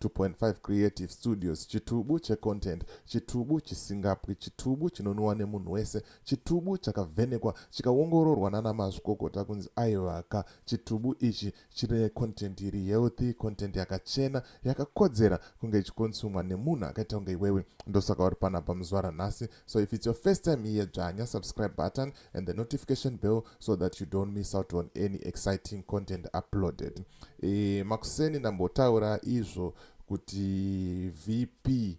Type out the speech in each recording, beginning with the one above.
2.5 creative studios chitubu checontent chitubu chisingapwi chitubu chinonwiwa nemunhu wese chitubu chakavhenekwa chikaongororwa nana mazvikokota kunzi aivaka chitubu ichi chine content iri healthy content yakachena yakakodzera kunge ichikonsumwa nemunhu akaita kunge iwewe ndosaka uri panapa muzuva ranhasi So if it's your first time here, Janya, subscribe button and the notification bell so that you don't miss out on any exciting content uploaded. E, makuseni ndambotaura izvo kuti VP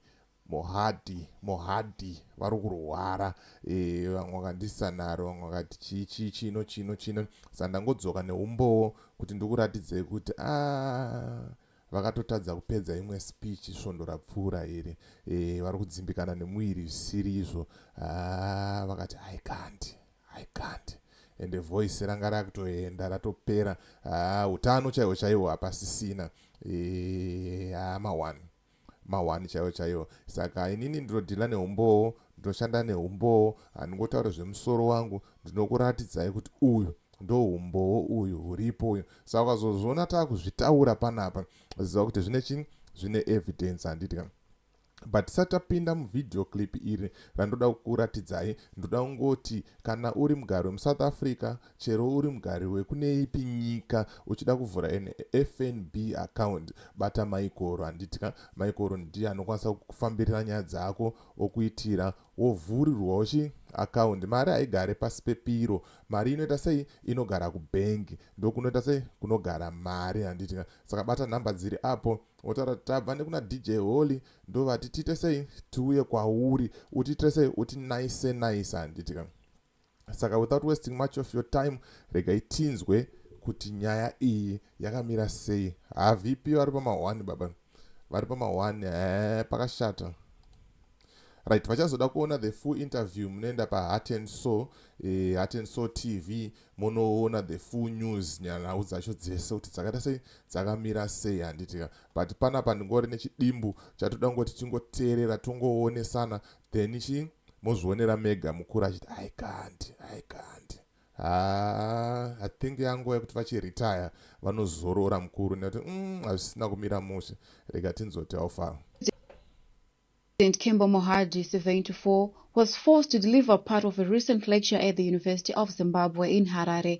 mohadi mohadi vari kurwara e, vamwe vakandisa naro vamwe vakati chii chii chino chino chino sa ndangodzoka neumbowo kuti ndikuratidzei kuti a ah, vakatotadza kupedza imwe speech svondo rapfuura iri e, vari kudzimbikana nemuviri zvisiri izvo ah, vakati i can't i can't ende voice ranga rakutoenda ratopera ah, utano chaiwo chaiwo hapasisina e, ah, mawani mawani chaiwo chaiwo saka inini ndinodhila neumbowo ndinoshanda neumbowo handingotaure zvemusoro wangu ndinokuratidzai kuti uyu ndohumbowo uyu huripo uyu saka ukazozviona takuzvitaura panapa ziva kuti zvine chii zvine evidence handiti ka but tisati tapinda muvideo clip iri randoda kukuratidzai ndoda kungoti kana uri mugari wemusouth africa chero uri mugari wekune ipi nyika uchida kuvhura an fnb account bata maikoro handiti ka maikoro ndiye anokwanisa kufambirira nyaya dzako okuitira wovhurirwawo chi account mari haigare pasi pepiro mari inoita sei inogara kubhengi ndokunoita sei kunogara mari handiti saka bata nhamba dziri apo wotaura tabva nekuna dj holy ndovati tiite sei tiuye kwauri utiitire sei uti naise naise handitika saka without wasting much of your time regai tinzwe kuti nyaya iyi yakamira sei havp vari pamahwani baba vari pamahwani e pakashata right vachazoda kuona the full interview munoenda paheart and so e, heart and so tv munoona the full news nhau dzacho dzese kuti dzakaita sei dzakamira sei handitika but panapa ndingori nechidimbu chatoda kungoti tingoteerera tongoonesana then chii mozvionera mega mukuru achiti i can't i can't haa i think yanguva yekuti vachiretire vanozorora mukuru nekuti mm, hazvisina kumira mushe rega tinzoti aufaro President Kembo Mohadi, 74, was forced to deliver part of a recent lecture at the University of Zimbabwe in Harare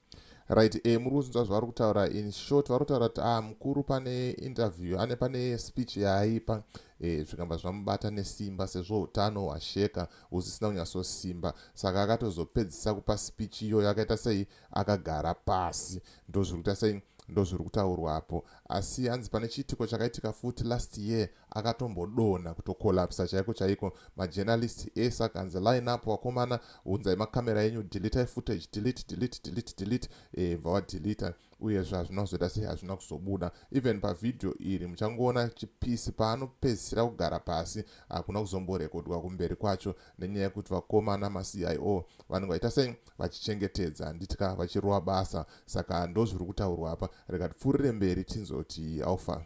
right e eh, muri kunzwa zvavari kutaura in short vari kutaura kuti ah mukuru pane interview ane pane speech yaaipa e, zvikamba zvamubata nesimba sezvo utano hwasheka husisina kunyatsosimba saka akatozopedzisa kupa speech iyoyo akaita sei akagara pasi ndozviri kuita sei ndozviri kutaurwapo asi hanzi pane chiitiko chakaitika futi last year akatombodonha kutokolapsa chaiko chaiko majournalist ese akanzi line up wakomana unzai makamera enyu deletai footage delete delete delete delete e, bva wadelita uyezve hazvina kuzoita sei hazvina kuzobuda even pavhidhiyo iri muchangoona chipisi paanopedzisira kugara pasi hakuna kuzomborekodwa kumberi kwacho nenyaya yekuti vakomana macio vanenge vaita sei vachichengetedza handitya vachirowa basa saka ndozviri kutaurwa apa reka tipfuurire mberi tinzoti alfa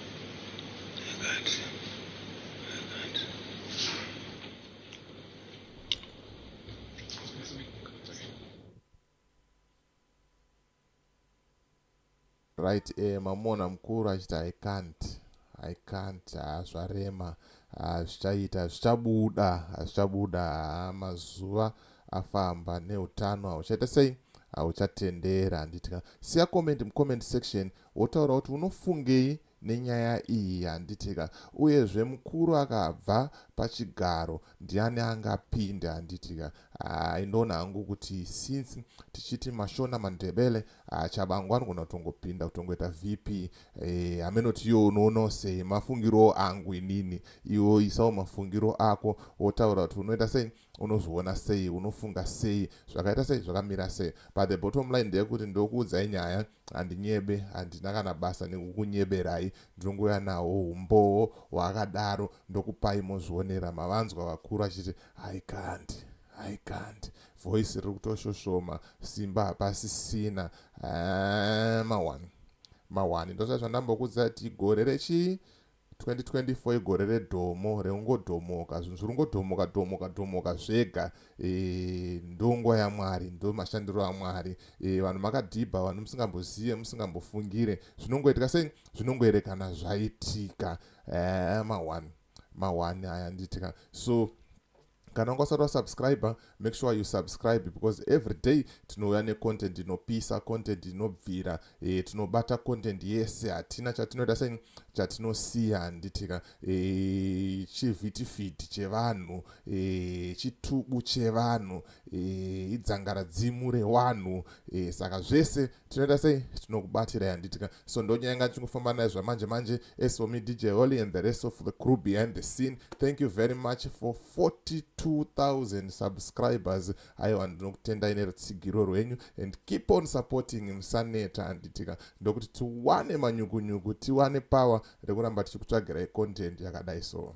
right eh, mamona mukuru achiti i can't i can't ah, zvarema ah, zvichaita ah, zvichabuda hazvichabuda ah, ah, mazuva afamba neutano hauchaita sei hauchatendera handiti siya comment mucomment section wotaura kuti unofungei nenyaya iyi handitika uyezve mukuru akabva pachigaro ndiani angapinde handitika aindoona ah, hangu kuti since tichiti mashona mandebele ah, chabangu anogona kutongopinda kutongoita vp eh, hameno kuti iyo unoonawo sei mafungiro angu inini iwo isawo mafungiro ako wotaura kuti unoita sei unozviona sei unofunga sei zvakaita sei zvakamira sei but the bottom line ndeyekuti ndokuudzai nyaya handinyebe handina kana basa nekukunyeberai ndinongouya nawo umbowo hwaakadaro ndokupai mozvionera mavanzwa vakuru achiti haikandi haikandi voice riri kutoshoshoma simba hapasisina mawani mawani ndosazvandambokudzati gore rechii 2024 igore redhomo reungodhomoka zvinhu zviri ungodhomoka dhomoka dhomoka zvega e, ndonguva yamwari ndo mashandiro amwari e, vanhu makadhibha vanhu musingambozive musingambofungire zvinongoitika sei zvinongoerekana zvaitika e, eh, mawani mawani aya nditika so kana wanga usati wasubscriber make sure you subscribe because every day tinouya necontent inopisa content inobvira e, tinobata content yese hatina chatinoita sei chatinosiya handitika e, eh, chivhitifiti chevanhu e, chitubu chevanhu e, idzangaradzimu rewanhu e, saka zvese tinoita sei tinokubatirai handitika so ndonyaya yanga ndichingofamba nayo zvamanje manje as for me dj holly and the rest of the crew behind the scene thank you very much for 42000 subscribers aiwa ndinokutendai nerutsigiro rwenyu and keep on supporting musaneta handitika ndokuti tiwane manyukunyuku tiwane power rekuramba tichikutsvagirai content yakadai so